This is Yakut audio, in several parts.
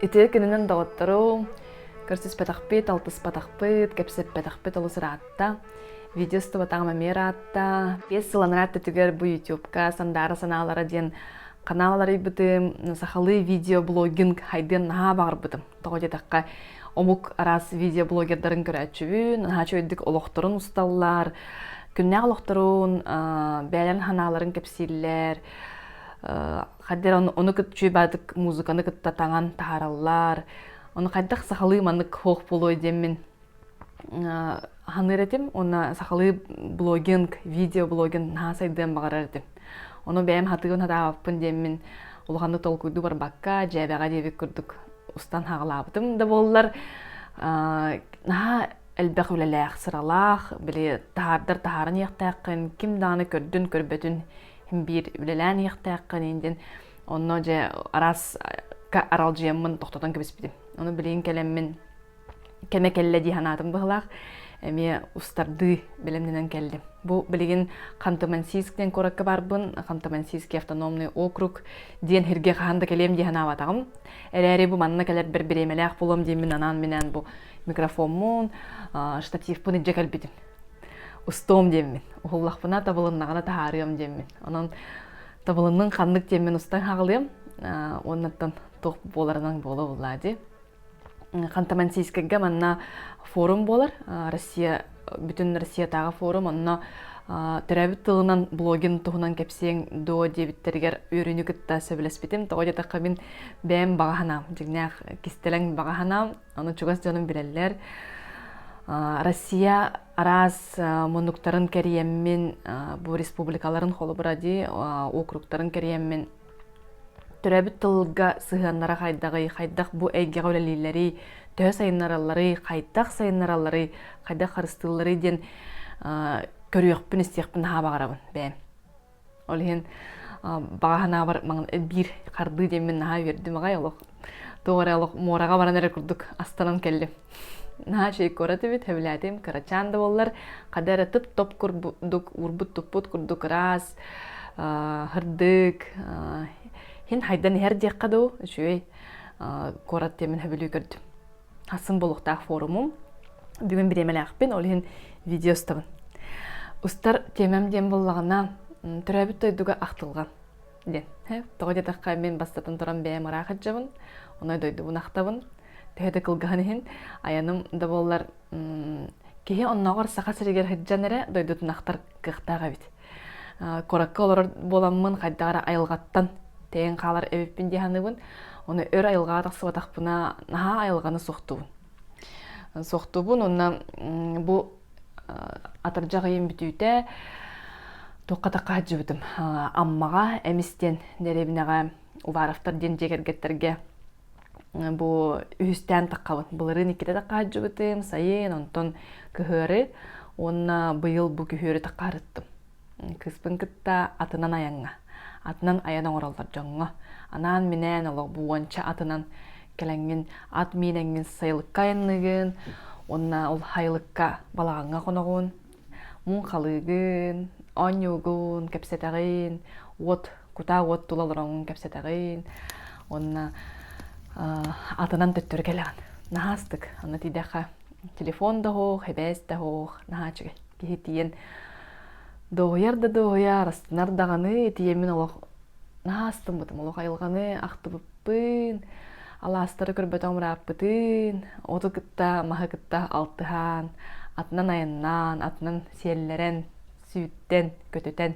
Итиэ кининэн доҕоттору көрсүспэтахпыт, алтыспатахпыт, кэпсэппэтахпыт олус ыраатта. Видеостубатаҕым эмиэ ыраатта. Биэс сылынан аттытыгар бу YouTube-ка Сандаара санаалара диэн канал арыйбытым сахалыы видеоблогинг хайдыан наһаа баҕарбытым тоҕо диэтэххэ омук араас видеоблогердарын көрөөччүбүн наһаа чөйдүк олохторун усталлар күннээх олохторун бэйэлэрин санааларын кэпсииллэр хаддер ону кытчү баатык музыканы кытта таҥан таһаараллар ону хайдах сахалыы маннык хоох буолуой диэммин Аһыныыр этим уонна сахалыы блогинг, видеоблогин наһаа сайдыан баҕарар этим. Ону бэйэм хатыгын хатаабаппын диэммин улаханнык толкуйдуу барбакка, дьээбэҕэ диэбит курдук устан хаҕалаабытым да буоллар, наһаа элбэх үлэлээх, сыралаах, били таһаардар таһааран иэхтээххин, ким даҕаны көрдүн-көрбөтүн иһин биир үлэлээн иэхтээххин иһин диэн онно дьэ араас аралдьыйаммын тохтотон кэбиспитим. Ону билигин кэлэммин кэмэ кэллэ дии санаатым быһылаах эмиэ устардыы бэлэмнэнэн кэллим. Бу билигин Ханты-Мансийск диэн куоракка барбын, Ханты-Мансийский автономный округ диэн сиргэ хаһан да кэлиэм дии санаабатаҕым. Эрээри бу манна кэлэрбэр бириэмэлээх булуом диэммин анаан минээн бу микрофоммун, штативпын илдьэ кэлбитим. Устуом диэммин, уһуллахпына, табылыннаҕына таһаарыам диэммин. Онон табылынның ханнык диэммин устан хаҕылыам, уоннаттан туох буоларынан буола буллаа дии. Ханта-Мансийскайга манна форум буолар. Россия бүтүн Россиятааҕы форум онно төрөөбүт тылынан блогин туһунан кэпсиэҥ дуо диэбиттэригэр үөрүүнү кытта сөбүлэспитим. Тоҕо диэтэххэ мин бэйэм баҕаһынаам, дьиҥнээх кистэлэҥ баҕаһынаам, ону чугас дьонум билэллэр. Россия араас мунуктарын кэрийэммин, бу республикаларын холобура дии, округтарын кэрийэммин төрөөбүт тылга сыһыаннара хайдаҕый, хайдах бу эйгэҕэ үлэлииллэрий, төһө сайыннаралларый, хайдах сайыннаралларый, хайдах харыстыылларый диэн көрүөхпүн-истиэхпин наһаа баҕарабын бэйэм. Ол иһин баҕа санаабар маҥан биир хардыы диэммин наһаа үөрдүм аҕай олох Туох эрэ олох муораҕа баран эрэр курдук астанан кэллим. Наһаа чэй куорат эбит, хөбүлээтим, кырачаан да буоллар, хата эрэ тып-топ курдук, уурбут-туппут курдук ыраас, һырдык, иһин хайдан иһэр диэххэ дуу, үчүгэй куорат диэмин хөбүлүү көрдүм. Хасым буолуохтаах форумум, бүгүн бириэмэлээхпин, ол иһин видео устабын. Устар тиэмэм диэн буоллаҕына, төрөөбүт дойдуга ахтылҕан. диэн тоҕо диэтэххэ мин бастатан туран бэйэм ыраахатчыбын онно дойдубун ахтабын төһө да кылгаһын иһин айаным да буоллар киһи оннооҕор саха сиригэр сылдьан эрэ дойдутун ахтар кыахтаах эбит куоракка олорор буоламмын хайдах эрэ айылҕаттан тэйэн хаалар эбиппин дии саныыбын оны өр айылҕаҕа тахсыбатахпына наһаа айылҕаны суохтуубун суохтуубун уонна бу атырдьах ыйын бүтүүтэ туохха-тахха сылдьыбытым Аммаҕа Эмис диэн дэриэбинэҕэ Уваровтар диэн дьиэ кэргэттэргэ бу үһүстээн таххабын былырыын иккитэ тахха сылдьыбытым сайын онтон кыһыары уонна быйыл бу күһүөрү таххаарыттым Кыспын кытта атынан айаҥҥа, атынан айан оҥороллор дьоҥҥо, анаан-минээн олоҕу уонча атынан кэлэҥҥин, ат миинэҥҥин сайылыкка айанныыгын уонна ол сайылыкка балаҕаҥҥа хоноҕун, муҥ халыыгын, оонньуугун кэпсэтэҕин, уот, кутаа уот тула олороҥҥун кэпсэтэҕин уонна атынан төттөрү кэлэҕин. Наһаастык, аны тиийдэххэ телефон да оһох, эбээс да оһох наһаа үчүгэй. киһи тиийэн доҕуйар да доҕуйар астынар даҕаны тиийэммин олох наһаа астыммытым олох айылҕаны ахтыбыппын алаастары көрбөтөҕүм ырааппытын оту кытта маһы кытта алтыһаан атынан айаннаан атынан сиэллэрэн сүүттэн көтүтэн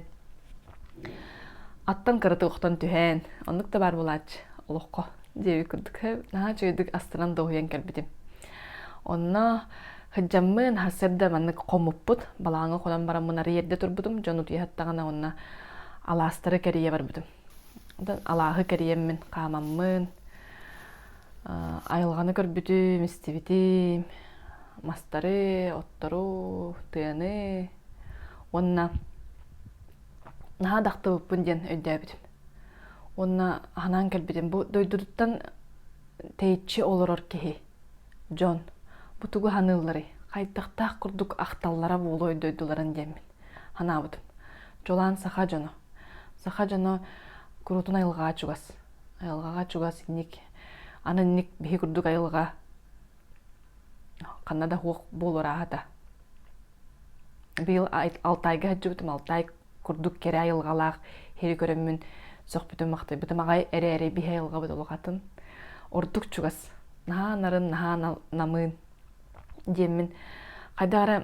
аттан кыратык охтон түһээн оннук да баар буолааччы олоххо диэбит курдук наһаа үчүгэйдик астынан доһуйан кэлбитим онно сылдьаммын сарсыарда маннык хомуппут балаҕаҥҥа хонон бараммын арыйэрдэ турбутум дьон утуйаһаттаҕына уонна алаастары кэрийэ барбытым алааһы кэрийэммин хаамаммын айылҕаны көрбүтүм истибитим мастары оттору тыаны уонна наһаа дахтыбыппын диэн өйдөөбүтүм Уонна аһынан кэлбитим. Бу дойдутуттан тэйиччи олорор киһи, дьон. Бу тугу саныылларый? Хайдахтаах курдук ахталлара буолуой дойдуларын диэммин санаабытым. Чулаан саха дьоно. Саха дьоно куруутун айылҕаҕа чугас. Айылҕаҕа чугас инник. Аны инник биһи курдук айылҕа ханна да суох буолуор ааһата. Быйыл Алтайга сылдьыбытым. Алтай курдук кэрэ айылҕалаах иһи көрөммүн сөхпүтүм-махтайбытым аҕай эрээри биһи айылҕабыт улахатын ордук чугас наһаа нарын наһаа намыын диэммин хайдах эрэ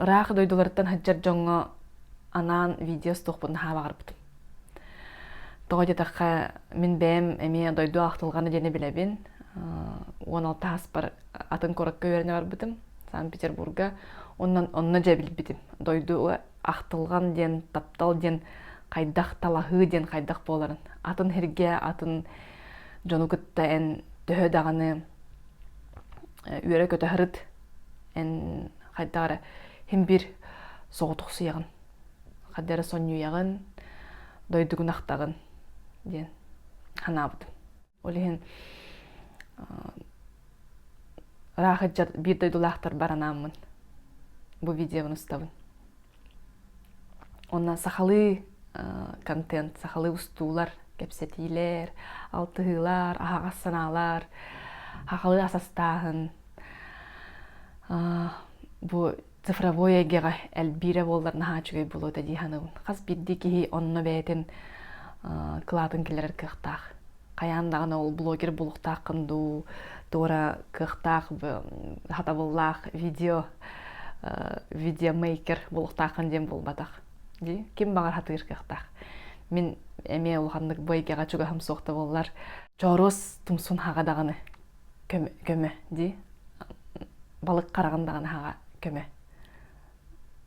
ыраах дойдуларыттан сылдьар дьоҥҥо анаан видео стокпун наһаа баҕарбытым тоҕо диэтэххэ мин бэйэм эмиэ дойду ахтылҕана диэни билэбин уон алта ааспар атын куоракка үөрэнэ барбытым санкт петербурга онно онно дьэ билбитим дойду ахтылҕан диэн таптал диэн хайдах талаһыы диэн хайдах буоларын атын сиргэ атын дьону кытта эн төһө даҕаны үөрэ-көтө сырыт эн хайдах эрэ син соҕотохсуйаҕын хайдах эрэ сонньуйаҕын дойдугун ахтаҕын диэн санаабытым Ол иһин ыраах ыччат биир дойдулаахтар бар анааммын бу видеобын устабын. Онно сахалыы контент, сахалыы устуулар, кэпсэтиилэр, алтыһыылар, аһаҕас санаалар, сахалыы ас астааһын, бу цифровой эйгэҕэ элбиирэ буоллар наһаа үчүгэй буолуо этэ дии саныыбын хас биирдии киһи онно бэйэтин кылаатын киллэрэр кыахтаах хайаан даҕаны ол блогер булуохтааххын дуу туора кыахтаах хатабыллаах видео видеомейкер булуохтааххын диэн буолбатах дии ким баҕар хатыыр кыахтаах мин эмиэ улаханнык бу эйгэҕэ чугаһым суох да буоллар чооруос тумсун хаҕа даҕаны көмө көмө дии балык хараҕын даҕаны аһаҕа көмө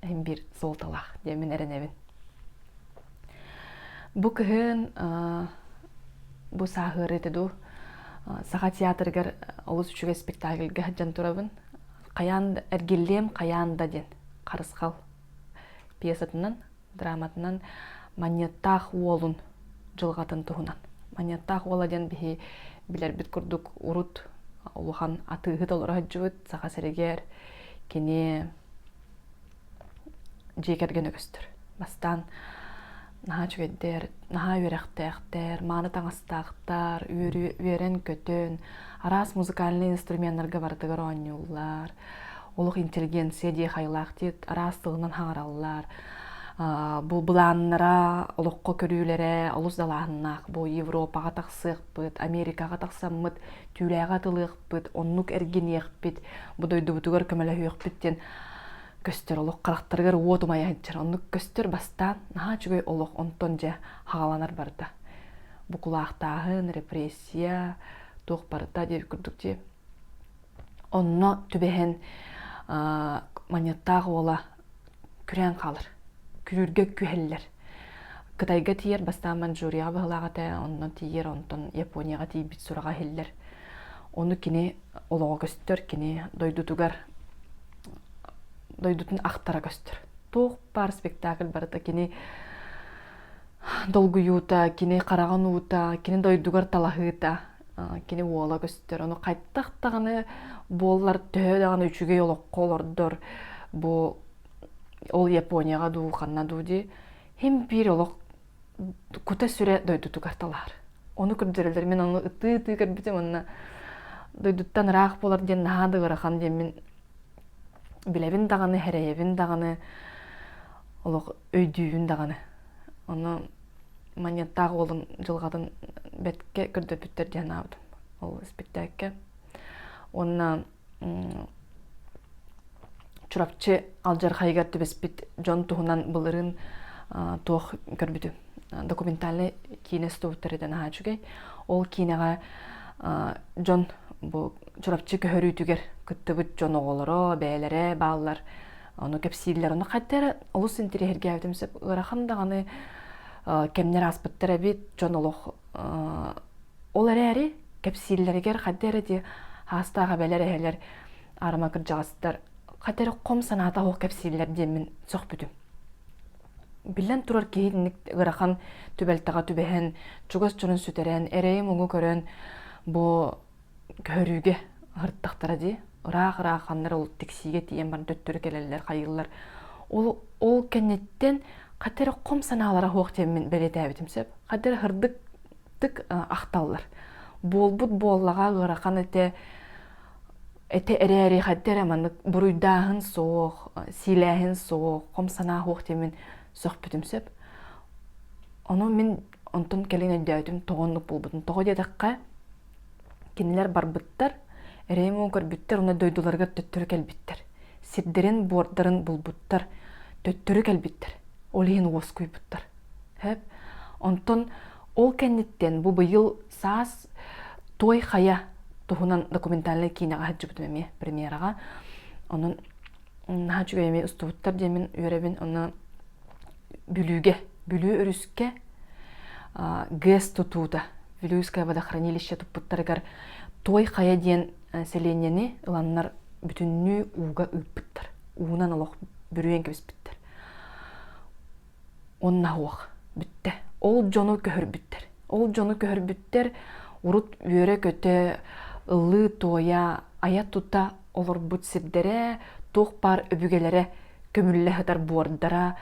иһин биир суолталаах диэн мин эрэнэбин бу кыһын бу сааһыарыыты дуу саха театрыгар олус үчүгэй спектакльга сылдьан турабын хайаан да эргиллиэм хайаан да диэн харысхал пьесатынан драматынан манньыаттаах уолун дьылҕатын туһунан. Манньыаттаах уола диэн биһи билэрбит курдук урут улахан атыыһыт олоро сылдьыбыт Саха сэригэр кини дьиэ кэргэн үгэстэр. Бастаан наһаа үчүгэйдэр, наһаа үөрэхтээхтэр, мааны таҥастаахтар, үөрэн-көтөн, араас музыкальнай инструменнарга барытыгар оонньууллар, олох интеллигенция диэх айылаахтык араас тылынан хаҥараллар бу былааннара олоххо көрүүлэрэ олус далааһыннаах бу европаҕа тахсыахпыт америкаҕа тахсаммыт түүлээҕи атылыахпыт оннук эргиниэхпит бу дойдубутугар көмөлөһүөхпүт диэн көстөр олох харахтарыгар уот умайа сылдьар оннук көстөр бастаан наһаа үчүгэй олох онтон дьэ хагаланар барда бу кулаахтааһын репрессия туох барыта диэбит курдук дии Онно түбэһэн манньыаттаах уола күрээн хаалар. Күлүүргэ күһэллэр. Кытайга тиийэр бастаан Маньчжурияҕа быһылаах этэ, онон тиийэр, онтон Японияҕа тиийбит сураҕа иһиллэр. Ону кини олоҕо көстөр, кини дойдутугар дойдутун ахтара көстөр. Туох баар спектакль барыта кини долгуйуута, кини хараҕын уута, кини дойдугар талаһыыта кини уола көстөр ону хайдах даҕаны буоллар төһө даҕаны үчүгэй олоххо олордор бу ол японияҕа дуу ханна дуу дии хим биир олох кута сүрэ дойдутугар талаар ону көрдөрөллөр мин ону ытыы ытыы көрбүтүм онно дойдуттан ыраах буолар диэн наһаа да ыарахан диэн мин билэбин даҕаны эрэйэбин даҕаны олох өйдүүбүн даҕаны ону манньыаттаах уолум дьылҕатын бэрткэ көрдөпүттэр диэн анаабытым ол испиктээккэ уонна Чурапчы алдьархайыгар түбэспит дьон туһунан былырын туох көрбүтүм документальнай киинэ студиттарыттан аhaa үчүгэй ол киинэҕэ дьон бу Чурапчы көһөрүүтүгэр кыттыбыт дьон оҕолоро бэйэлэрэ бааллар Ону кэпсииллэр. Ону хаттара олус интириэһиргээбитим сөп. Ыарахан даҕаны кэмнэр ааспыттар эбит, дьон олох ол эрээри кэпсииллэригэр хатта эрэ дии аастаах эбэлэр эһэлэр арыма кырдьаҕастар хата эрэ хом санаата суох кэпсииллэр диэммин сөхпүтүм. Биллэн турар киһи инник ыарахан түбэлтэҕэ түбэһэн, чугас дьонун сүтэрэн, эрэйи-муҥу көрөн бу көһөрүүгэ ыһыктахтара дии ыраах-ыраах ханнар ол тиксиигэ тиийэн баран төттөрү кэлэллэр хайыыллар ол ол кэнниттэн хата эрэ хом санаалара суох диэммин бэлиэтээбитим сөп хата эрэ һырдыктык ахталлар буолбут буоллаҕа ыарахан этэ этэ эрээри хата эрэ маннык буруйдааһын суох сиилээһин суох хом санаа суох диэммин сөхпүтүм сөп ону мин Онтон кэлин өйдөөтүм тоҕо оннук буолбутун. Тоҕо диэтэххэ, кинилэр барбыттар, Реймон көрбүттэр уонна дойдуларыгар төттөрү кэлбиттэр. Сирдэрин, буордарын булбуттар, төттөрү кэлбиттэр. Ол иһин уоскуйбуттар. Сөп? Онтон ол кэнниттэн бу быйыл саас Той Хайа туһунан документальнай киинэҕэ сылдьыбытым эмиэ премьераҕа. Онон наһаа үчүгэй эмиэ устубуттар диэмин үөрэбин. Онно Бүлүүгэ, Бүлүү өрүскэ ГЭС тутуута, Бүлүүское водохранилище туппуттарыгар Той Хайа диэн сэлиэнньэни ыланнар бүтүннүү ууга ыыппыттар. Уунан олох бүрүйэн кэбиспиттэр. Онно оһуох бүттэ. Ол дьону көһөрбүттэр. Ол дьону көһөрбүттэр урут үөрэ-көтө, ыллыы-туойа, айа-тута олорбут сирдэрэ, туох баар өбүгэлэрэ көмүллэ сытар буордара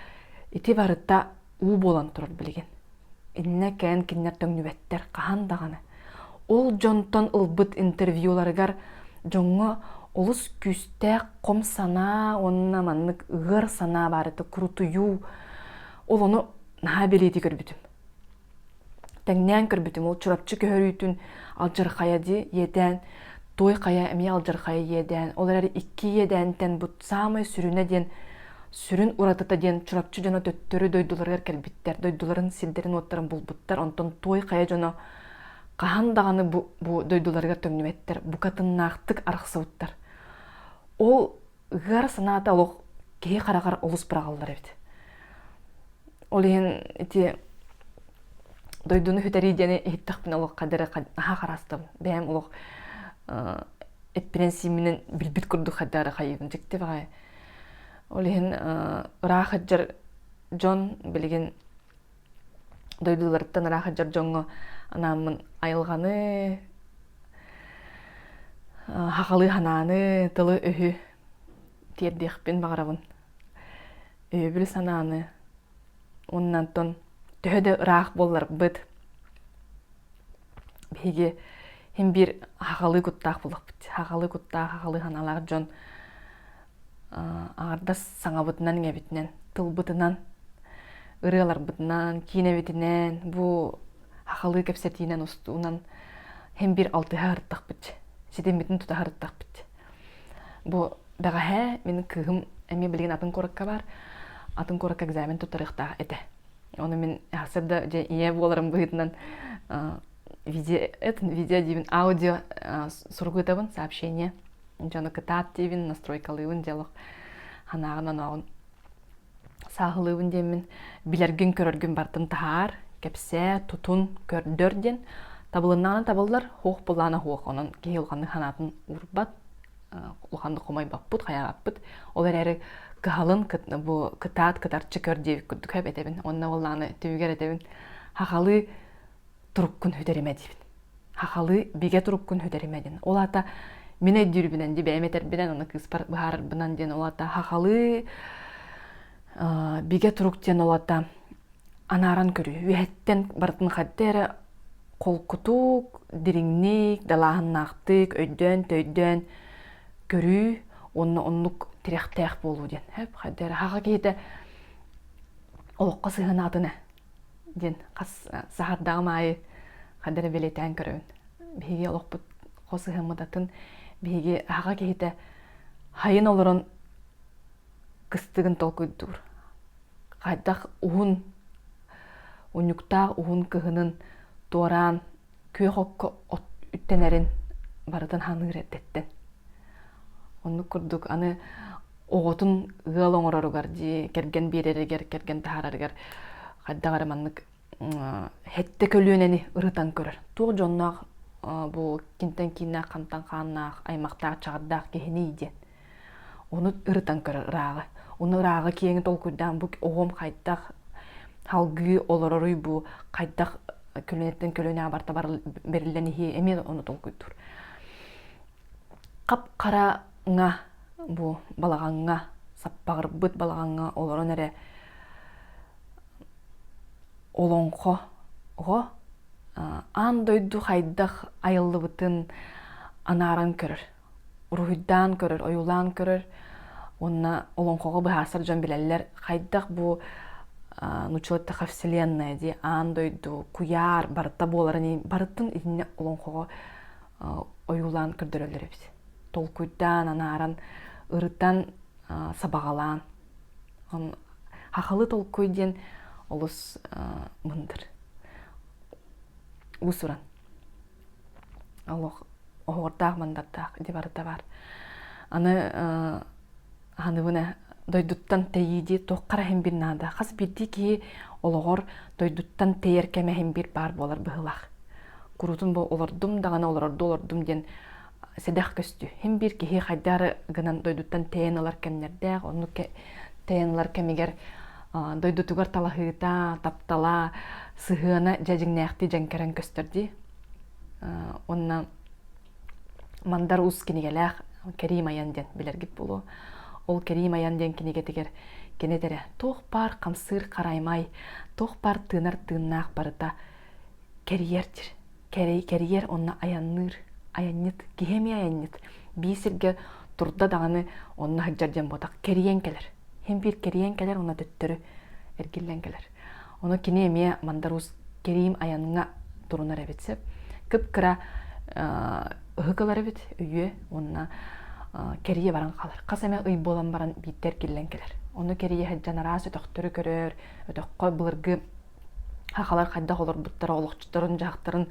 ити барыта уу буолан турар билигин. Иннэ кээн кинилэр төҥнүбэттэр хаһан даҕаны. Ол дьонтон ылбыт интервьюларыгар дьоҥҥо олус күүстээх хом санаа уонна маннык ыар санаа баарыта курутуйуу ол ону наһаа билиити көрбүтүм. Тэҥнээн көрбүтүм, ол Чурапчы көһөрүүтүн алдьархайа дии иэдээн, Туой Хайа эмиэ алдьархайа иэдээн, ол эрээри икки иэдээнтэн бут саамай сүрүнэ диэн сүрүн уратыта диэн Чурапчы дьоно төттөрү дойдуларыгар кэлбиттэр, дойдуларын сирдэрин-уоттарын булбуттар, онтон Туой Хайа дьоно хаһан даҕаны бу, бу дойдуларыгар төннүбэттэр, бука тыннаахтык арахсыбыттар. Ол Ыар санаата олох киһи хараҕар олус быраҕыллар эбит. Ол иһин ити дойдуну бүтэрии диэни иһиттэхпинэ олох қадары аһа харастым. Бэйэм олох эппинэн-сииминэн билбит курдук хайдары хайыыбын дьиктибэҕэ. Ол иһин ыраах сылдьар дьон билигин дойдуларыттан ыра сылдьар дьоҥҥо анааммын айылҕаны хахалыы санааны тылы-өһү тиэрдиэхпин баҕарабын өйөбүл санааны уонна оттон төһө да ыраах буолларбыт биһиги син биир хахалыы куттаах буолуохпут хахалыы куттаах хахалыы санаалаах дьон аҥардас саҥабытынан иҥэбитинэн тылбытынан ырыаларбытынан киинэбитинэн бу хахалыы кэпсэтиинэн устуунан һимбир алтыһа ырыттахпыт ситиммитин тута ырыттахпыт бу бэҕэһээ мин кыыһым эмиэ билигин атын куоракка баар атын куоракка экзамен туттарыахтаах этэ ону мин сырда дьэ ийэ буоларым быһыытынан видео диибин аудио сурук ыытабын сообщение дьону кытаат диибин настройкалыыбын диалог ханааҕын-онооҕун сааһылыыбын диэммин билэргин көрөргүн бартын таһаар кэпсээ тутун көрдөр диэн табылыннаҕына табыллар хуох былаана хуох онон киһи улаханнык санаатын уурбат улаханнык хомойбоппут хайаҕаппыт ол эрээри кыһалын бу кытаат кытарчы көр диэбит курдук эбэтэбин онно ол ааны түмүгэр этэбин хахалыы туруккун үтэримэ диибин хахалы бигэ туруккун үтэримэ диэн ол аата мин өйдүүрбүнэн ди бэйэм этэрбинэн аны кыыспар быһаарарбынан диэн ол аата хахалы бигэ турук диэн ол аата анааран көрүү үөһэттэн барытын хардыы эрэ холкутук дириҥник далааһыннаахтык өйдөөн төйдөөн көрүү уонна оннук тирэхтээх буолуу диэн хардыы эрэ хаха киһитэ олоххо сыһынаатын ээ диэн хас саһардаҕым аайы хадда эрэ бэлиэтээн көрөбүн биһиги олохпут хос ыһыммыт атын биһиги аһаҕа киһитэ хайын олорон кыстыгын толкуйдуур хайдах уһун унньуктаах уһун кыһынын туораан күөх окко от үттэнэрин барытын саныыр эрдэттэн. Оннук курдук аны оҕотун ыал оҥороругар дии кэргэн биэрэригэр кэргэн таһаарарыгар хайдах эрэ маннык хэттэ көлүөнэни ырытан көрөр. Туох дьонноох бу кинтэн кииннээх хантан хааннаах аймахтаах чаҕардаах киһиний диэн Ону ырытан көрөр ырааҕы. Ону ырааҕы киэҥи толкуйдаан бу оҕом хайдах салгыы олороруй бу хайдах көлүөнэттэн көлүөнэҕэ барта бэриллэн иһиэ эмиэ ону толкуйдуур. Хап-хараҥа бу балаҕаҥҥа саппаҕырбыт балаҕаҥҥа олорон эрэ олоҥхо оҕо аан дойду хайдах айыллыбытын анааран көрөр. уруһуйдаан көрөр, ойуулаан көрөр уонна олоҥхоҕо быһаарсар дьон билэллэр хайдах бу нучилатта вселенная дии аан дойду куйаар барыта буоларын барытын иннинэ олоҥхоҕо ойуулаан көрдөрөллөр эбит толкуйдаан анааран ырытан сабаҕалаан хахалы толкуй диэн олус мындыр уусуран оһуордаах мандардаах ити барыта баар аны аһыныбына дойдуттан тэйии дии туох хара иһимбин наада хас биирдии киһи олоҕор дойдуттан тэйэр кэмэ иһимбир баар буолар быһыылаах куруутун бу олордум даҕаны олорорду олордум диэн сэдэх көстүү. Һин биир киһи хайдары гынан дойдуттан тэйэн ылар кэмнэрдээх, оннук тэйэн ылар кэмигэр дойдутугар талаһыыта, таптала, сыһыана дьэ дьиҥнээхтии дьэҥкэрэн көстөр дии. Онно Мандар Уус кинигэлээх Кэрим Айан диэн билэргит буолуо. Ол Кэрим Айан диэн кинигэтигэр кини этэрэ туох баар хамсыыр хараймай, туох баар тыынар тыыннаах барыта кэрийэр дир кэрэй кэрийэр онно айанныыр айанньыт киһи эмиэ айанньыт биир сиргэ турда даҕаны онно сылдьар диэн буотах кэрийэн кэлэр син биир кэрийэн кэлэр онно төттөрү эргиллэн кэлэр ону кини эмиэ мандаруус кэриим айаҥҥа турунар эбит сөп кып-кыра ыһык ылар эбит үйэ уонна кэрийэ баран хаалар хас эмэ ый буолан баран биирдэ эргиллэн кэлэр ону кэрийэ сылдьан араас өтөхтөрү көрөр өтөххө былыргы Сахалар хайдах олорбуттара, олохчуттарын, дьахтарын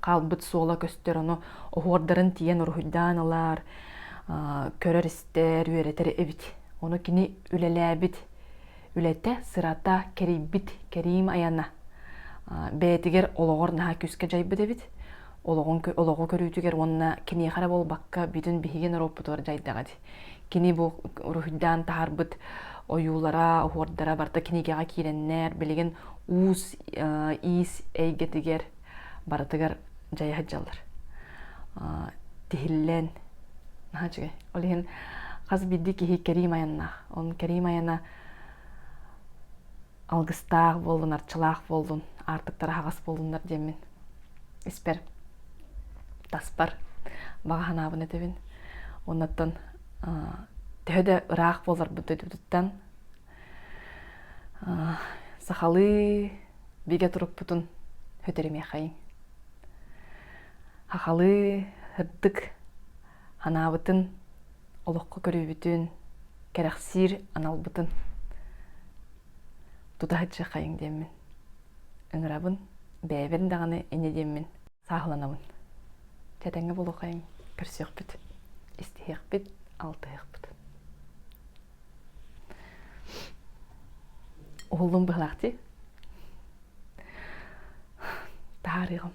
хаалбыт суола көстөр, ону оһуордарын тиийэн уруһуйдаан ылаар, көрөр-истэр, үөрэтэр эбит. Ону кини үлэлээбит үлэтэ, сырата, кэрийбит кэриим айана бэйэтигэр олоҕор наһаа күүскэ дьайбыт эбит. Олоҕун олоҕу көрүүтүгэр уонна киниэхэ эрэ буолбакка бүтүн биһиги норуоппутугар дьайдаҕа дии. Кини бу уруһуйдаан таһарбыт ойуулара, оһуордара барта кинигэҕэ киирэннэр, билигин уус иис эйгэтигэр барытыгар дьайа сылдьаллар. Тиһиллэн, наһаа үчүгэй. Ол иһин хас биирдии киһи кэрим айаннаах. Он кэрим айана алгыстаах буоллун арчылаах буоллун аартыктара хаҕыс буоллуннар диэммин испэр таспар баҕа санаабын этэбин уоннаттан төһө да ыраах буоларбыт дойдубутуттан сахалыы бигэ турукпутун өтөрүмүөхэйиҥ сахалыы ырдык анаабытын, олоххо көрүүбүтүн кэрэхсиир аналбытын тута сыдьахайыҥ диэммин ыҥырабын бэйэбин даҕаны ини диэммин сааһыланабын тэтэҥҥэ булухайым көрсүөхпүт истиһиэхпит алтыһыахпыт уһуллум быһылаах дии таһаарыаҕым